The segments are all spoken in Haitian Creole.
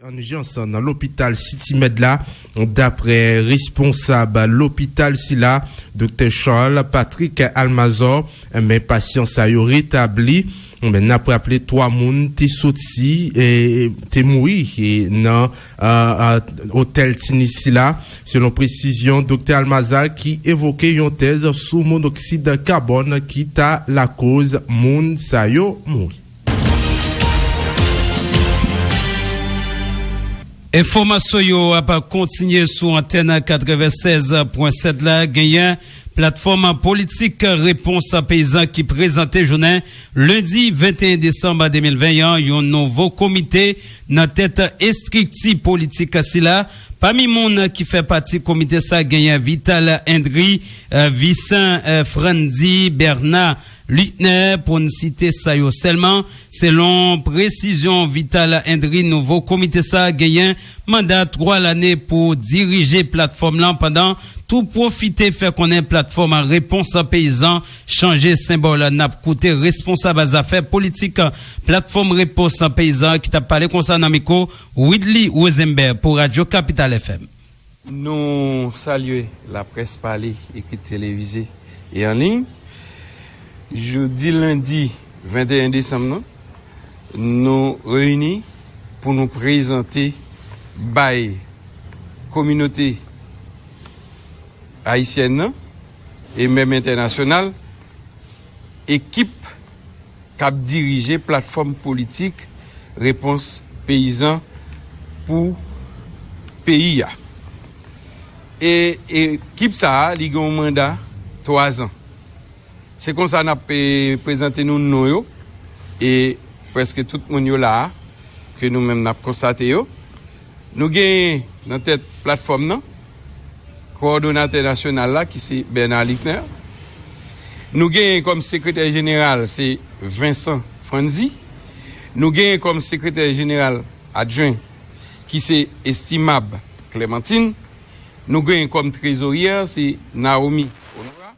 an ijans nan lopital City Med la, daprè responsab lopital sila, Doktè Charles Patrick Almazor, men pasyan sa yo retabli, men nap raple 3 moun te soti te mouri nan otèl Tinis sila, selon presizyon Doktè Almazar ki evoke yon tèz sou monoksid kabòn ki ta lakoz moun sa yo mouri. Enfòmasyon yo ap kontinye sou antèn 96.7 la, genyen Platfòm Politik Repons Peyizan ki prezante jounen lendi 21 desanm 2020 an yon nouvo komite nan tèt estrikti politik sila. Pami moun ki fè pati komite sa genyen Vital Endry, Vicent Frandy, Bernard Lutner pou n site sa yo sèlman. Selon presizyon Vital Hendry nouvo komite sa genyen manda 3 lane pou dirije platfòm lan pandan tou pwofite fè konnen platfòm repons peyizan chanje senbòl n ap koute responsab zafè politik platfòm repons peyizan ki t ap pale konsa nan mikwo Widly Rosenberg pou radyo kapital FM. Nou salye laprès pale, ekri, televize e an liy. Jodi lendi 21 desanm nan, nou reyini pou nou prezante bay kominote ayisyèn nan e menm entènasyonal ekip. k ap dirije platfòm politik Repons Peyizan pou peyi a. E ekip sa a li gen yon manda 3 zan. Se konsa n ap prezante nou non yo e prèske tout moun yo la a ke nou menm n ap konstate yo. Nou genyen nan tèt platfòm nan kowòdonatè nasyonal la ki se Bernard Luckner. Nou genyen kòm sekretè jeneral se Vincent Frandy. Nou genyen kòm sekretè jeneral adjwen ki se Estimable Clementine. Nou genyen kòm trezoryè se Naomi Honorat.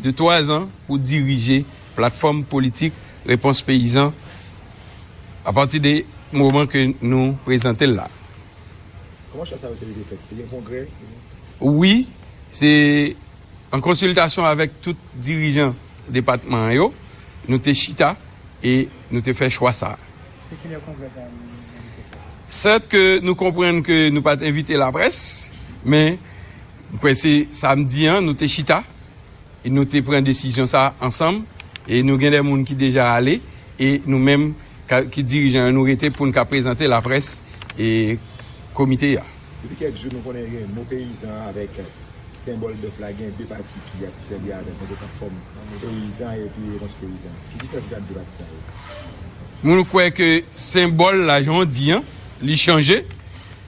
de twa zan pou dirije platfòm politik Repons Peyizan a pati de moman ke nou prezante l la. Kòman chwa sa yo te rive fèt? Te gen kongrè? Wi, se an konsiltasyon avèk tout dirijan depatman an yo, nou te chita e nou te fè chwa sa a. Se ki lè kongrè sa a nou te fè? Sèt ke nou konprann ke nou pa t envite laprès, men. M kwè se samdi an nou te chita e nou te pran desizyon sa ansanm e nou gen de moun ki deja ale e nou menm ki dirijan yo nou rete pou n ka prezante laprès e komite a. Depi kèk jou nou konnen gen mo peyizan an avèk senbòl bèf la gen de pati ki ap sèvi avèl tankou kap fòm peyizan epi repons peyizan. Ki diferans ki gen ant de pati sa yo? Moun kwè ke senbòl la jan w di an li chanje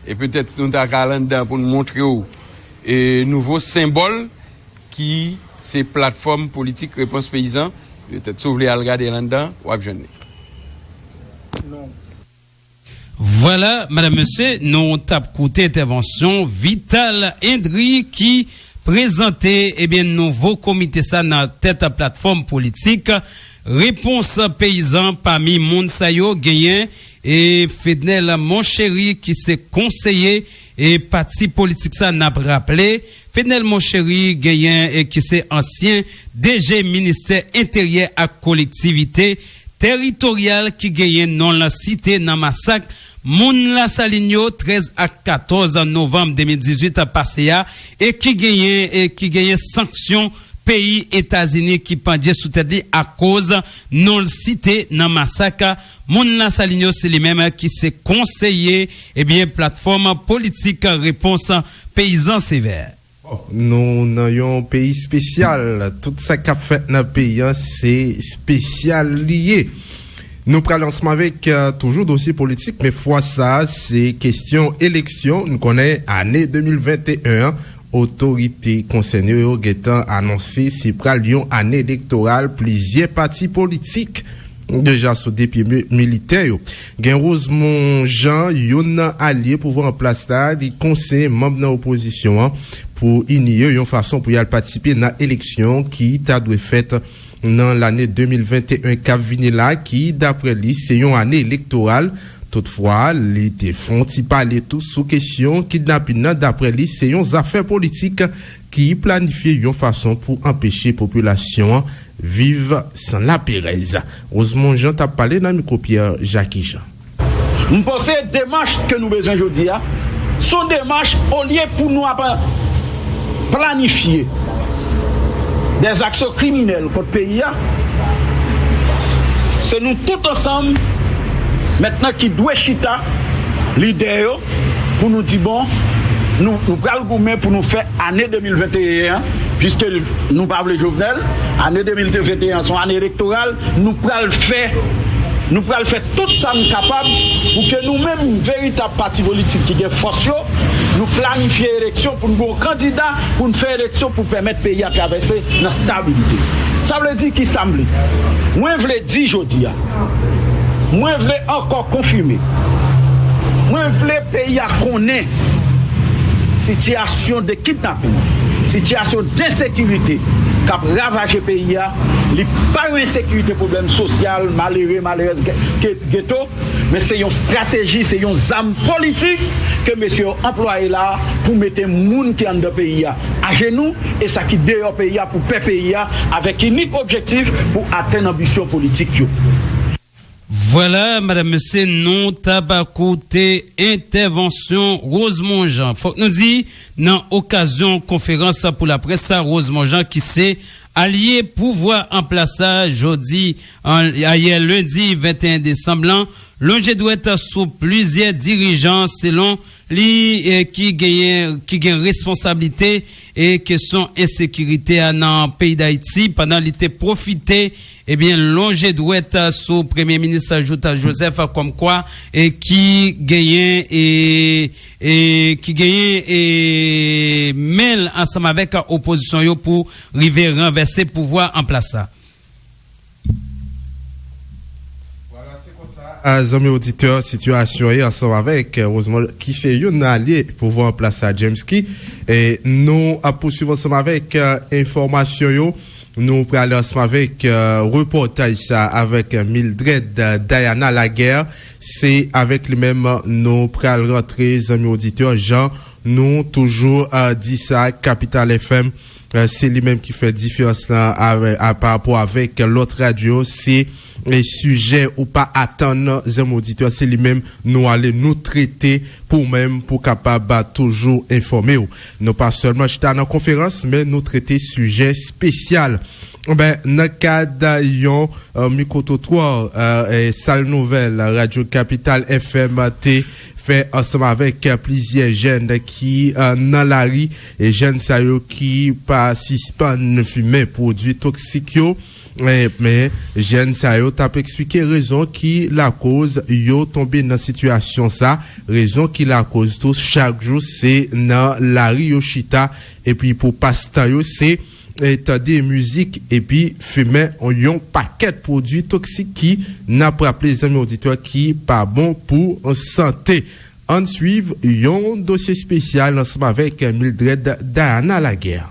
E petèt nou ta ka al anndan an pou n montre w nouvo senbòl ki se Platfòm Politik Repons Peyizan. Petèt si w vle al gade l anndan, w ap jwenn li. Vwala, medam, mesye, nou t ap koute entèvansyon Vital Indri ki prezante, ebyen, nouvo komite sa nan tèt Platfòm Politik Repons Peyizan. Pami moun sa yo, genyen. E Fednel Moncheri ki se konseye e pati politik sa n ap raple Fednel Moncheri genyen e ki se ansyen DG ministè enteryè ak kolektivite teritoryal ki genyen non l site nan masak moun Lasalin yo 13 ak 14 novanm 2018 pase a e ki genyen e ki genyen sanksyon peyi Etazini ki pandje sou tèt li akoz non l site nan masak Moun nan Salinyo se li menm ki se konseye ebyen platfòm politik repons peyizan sevè. Bon nou nan yon peyi spesyal tout sa kap fèt nan peyi an se spesyal li ye nou pral ansanm avèk toujou dosye politik men fwa sa se kestyon eleksyon nou konnen ane 2021 an otorite konsène yo gentan anonse se pral yon ane elektoral plizyè pati politik. Deja sou de pye militè yo. Gen Rosemond Jean, youn nan alye pouvwa an plas la, li konseye manm nan opozisyon an pou ini yo yon fason pou y al patisipe nan eleksyon ki ta dwe fèt nan lane 2021 k ap vini la ki, daprè li, se yon ane elektoral. Toutfwa, li te fon ti pale tou sou kesyon kidnapin nan, daprè li, se yon zafè politik. ki planifye yon fason pou anpeche popilasyon an viv san laperèz. Rosemond Jean t ap pale nan mikwo Pierre Jacky Jean. M panse demach ke nou bezwen jodi a, s on demach olye pou nou ap planifye des aksyon kriminèl kont peyi a, se nou tout ansanm mentnan ki dwe chita, lidè yo, pou nou di bon nou pral goumen pou nou fè ane 2021 an piske nou pa vle Jovenel ane 2021 an son ane elektoral nou pral fè nou pral fè tout sa nou kapab pou ke nou menm veritab pati politik ki gen fòs yo nou planifye eleksyon pou nou gen yon kandida pou nou fè eleksyon pou pèmèt peyi a travèse nan stabilite sa vle di ki sa m vle di mwen vle di jodi a mwen vle ankò. Konfime. Mwen vle peyi a konnen sitiyasyon de kidnapin, sitiyasyon densekirite k ap ravaje peyi a. Li pa yon ensekirite pwoblèm sosyal, malere, malerèz, geto, men se yon estrateji, se yon zam politik ke mesye yo anplwaye la a pou mete moun ki anndan peyi a ajenou e sa ki deyò peyi a pou pè peyi a avèk inik objektif pou atenn anbisyon politik yo. Vwala madam mesye nou tap koute entèvansyon Rosemond Jean. Fòk nou di nan okazyon konferans pou laprès sa Rosemond Jean ki se alye pouvwa anplas la jodi ayè lendi 21 desanm lan lonje dwèt sou plizyè dirijan selon li ki genyen ki gen responsablite kesyon ensekirite a nan peyi Dayiti pandan li te pwofite Ebyen lonje dwèt sou premye minis jout Joseph kòm kwa e ki genyen e e ki genyen e menl ansanm avèk opozisyon yo pou rive ranvèse pouvwa an plas sa. Vwala se konsa zanmi oditè sitiyasyon ye ansanm avèk Rosemond ki se youn nan alye pouvwa an plas sa James ki e nou ap pouswiv ansanm avèk enfòmasyon yo Nou pral ansanm avèk repòtaj sa avèk Mildred Diana Laguerre, se avèk li menm nou pral rantre zanmi oditè jan nou toujou di sa Capital FM se li menm ki fè diferans lan parapò avèk lòt radyo se. Sijè ou pa atann nan Zem Auditeur se li menm nou ale nou trete pou ou menm pou kapab toujou enfòme w. Nou pa sèlman chita nan konferans men nou trete sijè spesyal. Ben nan kad yon Micro-trottoir Sal Nouvèl Radyo Kapital FM te fè ansanm avèk plizyè jèn ki nan lari, jèn sa yo ki pa sispann fimen pwodui toksik yo, Men, jèn sa yo t ap eksplike rezon ki lakoz yo tonbe nan sitiyasyon sa, rezon ki lakoz tou chak jou se nan lari yo chita epi pou pas tan yo se tande mizik epi fimen yon pakèt pwodui toksik ki, n ap raple zanmi oditè, ki pa bon pou sante. Ann swiv yon dosye spesyal ansanm avèk Mildred Diana Laguerre.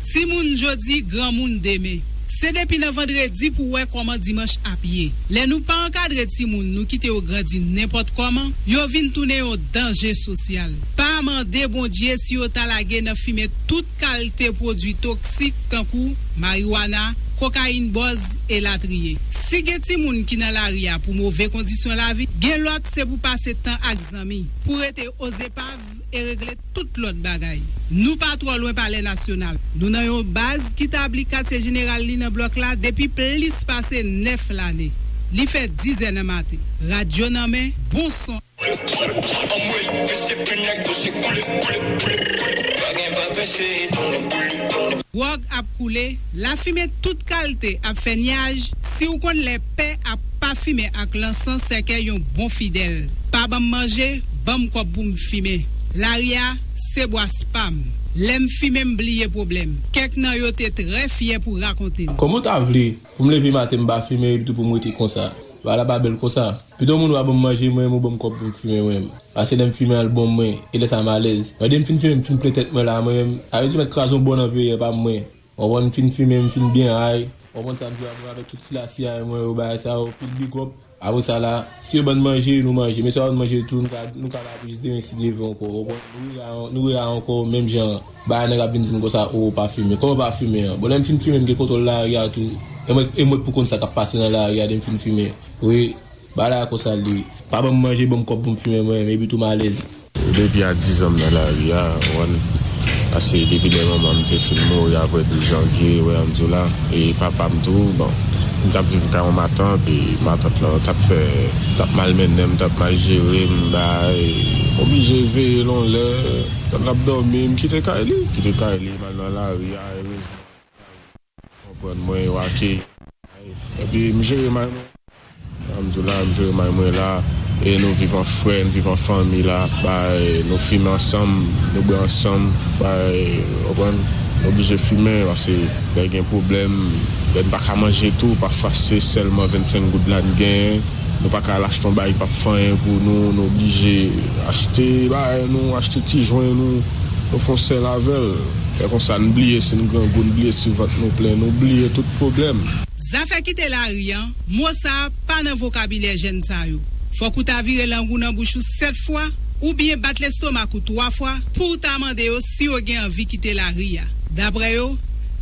Timoun jodi, granmoun demen. Se depi nan vandredi pou w wè kòman dimanch ap ye. Lè nou pa ankadre timoun, nou kite yo grandi nenpòt kòman, yo vin tounen yon danje sosyal. Pa mande Bondye si yo ta lage nan fimen tout. kalte pwodui toksik tankou mariwana, kokayin bòz e latriye. Si gen timoun ki nan lari a pou move kondisyon lavi, gen lòt se pou pase tan ak zanmi, pou rete ozepav e regle tout lòt bagay. Nou pa twò lwen palè nasyonal. Nou nan yon baz ki tabli katye jeneral li nan blòk la depi plis pase 9 lane. Li fè dizè nan maten. Radyo nan men, bon son. Gwòg ap koule, lafimen tout kalte ap fè nyaj, si w konn lè pè a pafimen ak lansan sèkèy yon bon fidèl, pa ban m manje, ban m kòb pou m fimen, lari a, se bwas pa m, lè m fimen m bliye pwoblèm, kèk nan yo te trè fyè pou rakonte m. Kòman w ta vle Pou m leve maten m pa fimen epitou pou m rete konsa. Bagay la pa bèl konsa. Pito moun wa ban m manje mwen menm ou ban m kòb pou m fimen mwen menm. Pase lè m fimen al bon mwen e lè sa m alèz. Mwen de m fin fimen m fin plen tèt mwen la mwen menm. Sa vle di mèt kraze yon bòn an veyè pa m mwen. Ou konprann m fin fimen m fin byen ay. Ou konprann sa m di w la mwen avèk tout sila siyaye mwen yo bagay sa yo pil bigòp. Apre sa la, si yo ban n manje, nou manje. Men si yo pa ban n manje ditou, nou ka la pou jis demen si Dye vle ankò. Ou konprann? Nou rela ankò menm jan an. Ba nèg ap vin di m konsa, O, ou pa fimen. Kòman ou pa fimen an? Bon, lè m fin fimen, m gen kontwòl lari a tou. E mwen e mwen k pou konn sa k ap pase nan lari a lè m fin fimen. Wi, bagay la konsa l ye. Pa ban m manje, ban m kòb pou m fimen mwen menm. Epitou m alèz. Depi a dizan m nan lari a, Juan, paske depi lè manman m te fin mouri aprè 12 janvye, wè an di w la, e papa m tou, bon, m t ap viv kay yon matant e matant lan t ap fè, t ap malmennen m, t ap mal jere m, bagay, m oblije veye l yon lè, lè l ap dòmi, m kite kay li, kite kay li, m al nan lari a, erezman. Konprann mwen yo ake may epi m jere may mwen jan m di w la m jere may mwen la e nou viv an frè n viv an fanmi la bay nou fimen ansanm nou bwè ansanm bay ou konprann nou oblije fimen pase lè gen pwoblèm lè n pa ka manje tou pafwa se sèlman 25 goud la n genyen. Nou pa ka al achte yon bagay ki pap fè anyen pou nou, nou oblije achte bagay nou, achte ti jwen nou, nou fon sèl avèl. Lè konsa n bliye si n grangou, n bliye si vant nou plen, nou bliye tout pwoblèm. Zafè kite lari an, mo sa a pa nan vokabilè jèn sa yo. Fòk ou ta vire lang ou nan bouch ou 7 fwa, oubyen bat lestomak ou 3 fwa pou w ta mande yo si yo gen anvi kite lari a. Daprè yo,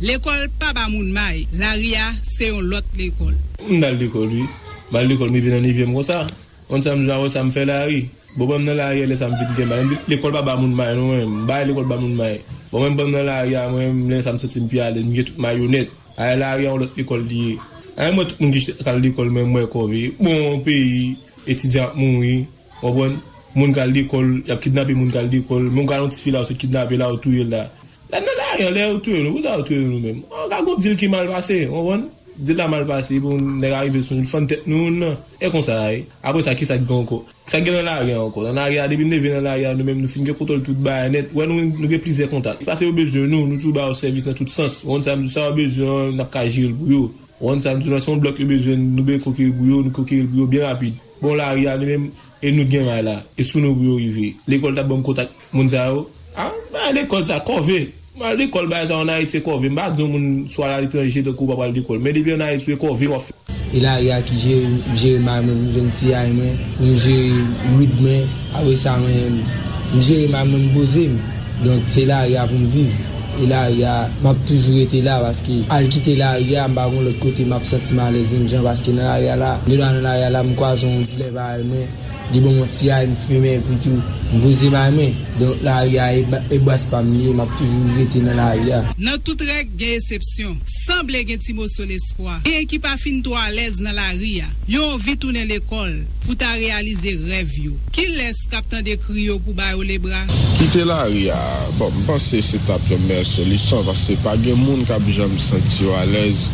lekòl pa ba moun may, lari a se yon lòt lekòl. M t al lekòl wi. M al lekòl m rive nan nevyèm konsa konn sa m bezwen wè sa m fè la wi bon ban m nan lari a lè sa m vin gen may lekòl pa ba moun may non mwen m bay lekòl ba moun may bon mwen ban m nan lari a mwen m lè sa m santi m pi alèz m gen tout may onèt ayè lari a yon lòt lekòl li ye ayè m wè tout moun ki chita k al lekòl men m wè kòve bon peyi etidyan ap mouri. Ou konprann? Moun kal lekòl, y ap kidnape moun kal lekòl, men ou gade yon tifi la ou sot kidnape la ou touye l la. Lè n nan lari an, lè yo touye nou, poukisa yo touye nou nou menm? An ka gon dil ki mal pase, ou konprann? Dil la mal pase epi yon nèg arive sou nou, li fann tèt nou yon nan. E konsa a ye. Apre sa, kisa k gen ankò? Sa k gen nan lari a ankò? Nan lari a, depi n leve nan lari a nou menm nou fin gen kontwòl tout bagay nèt. Ou wè nou nou gen plizyè kontak. Se pase yo bezwen nou, nou toujou ba yo sèvis nan tout sans. Ou konprann sa m di w? Sa yo bezwen an, n ap ka jere l pou yo. Ou konprann sa m di w la? Se yon blòk yo bezwen, nou bezwen konkeri pou yo, nou konkeri l pou yo byen rapid. Bon lari a li menm e nou t gen may la e sou nou pou yo rive lekòl tap banm kontak moun sa yo ah bagay lekòl sa kòve m al lekòl bagay sa yo an ayiti se kòve m pa di yon moun sou al aletranje tankou w pa pral lekòl men depi an ayiti ou e kòve wap fè. E lari a ki jere m jere may mwen pou jwenn tiyay mwen pou m jere wid mwen apresa mwen m jere may mwen m poze m donk se lari a pou m viv. E lari a map toujou rete la paske al kite lari a mpa gon lòt kote map santim alèz menm jan paske nan lari a la de lwa nan lari a la mkwazon yon dilè paray mwen li banm yon ti ray mfimen epi tou mpoze may mwen donk lari a e baz pam li ye map toujou rete nan lari a. Nan tout règ gen esepsyon. Sanble gen ti moso lespwa. Genyen ki pa fin twò alèz nan lari a. Yo anvi tounen lekòl pou ta reyalize rèv yo. Kilè Kap tande kri yo pou bayo le bra. Kite lari a, bon m panse se tap yon meyè solisyon paske pa gen moun kap janm santi yo alèz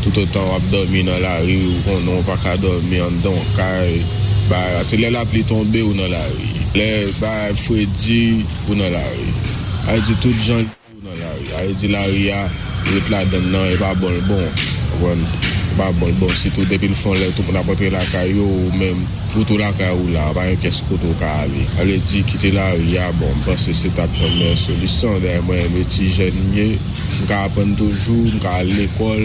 tout otan wap dòmi nan lari ou konnen ou paka dòmi anndan yon kay bagay la se lè lapli tonbe ou nan lari lè bagay fredi ou nan lari sa vle di tout jan yo nan lari a yo di lari a ret ladann nan e pa bon l bon konprann e pa bon l bon sitou depi l fon lè tout moun ap antre lakay yo ou menm ou tou lakay ou la pa gen pyès kote ou ka ale sa vle di kite lari a bon m panse se ta p yon meyè solisyon dayè mwen menm etijèn m ye m ka aprann toujou m ka al lekòl.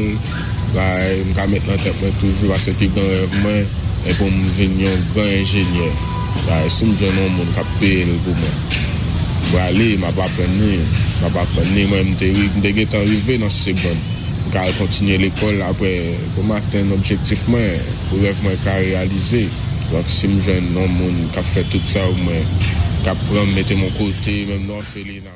Bagay m ka met nan tèt mwen toujou paske pi gran rèv mwen e pou m vin yon gran enjenyè. Bagay si m jwenn yon moun k ap peye l pou mwen. M prale, m ap aprann li, m ap aprann li. Mwen m te m te gen tan rive nan segonn. M ka al kontinye lekòl aprè pou m atenn objektif mwen, pou rèv mwen ka reyalize. Donk si m jwenn yon moun k ap fè tout sa pou mwen, k ap pran m mete m yon kote menm nan òfelina.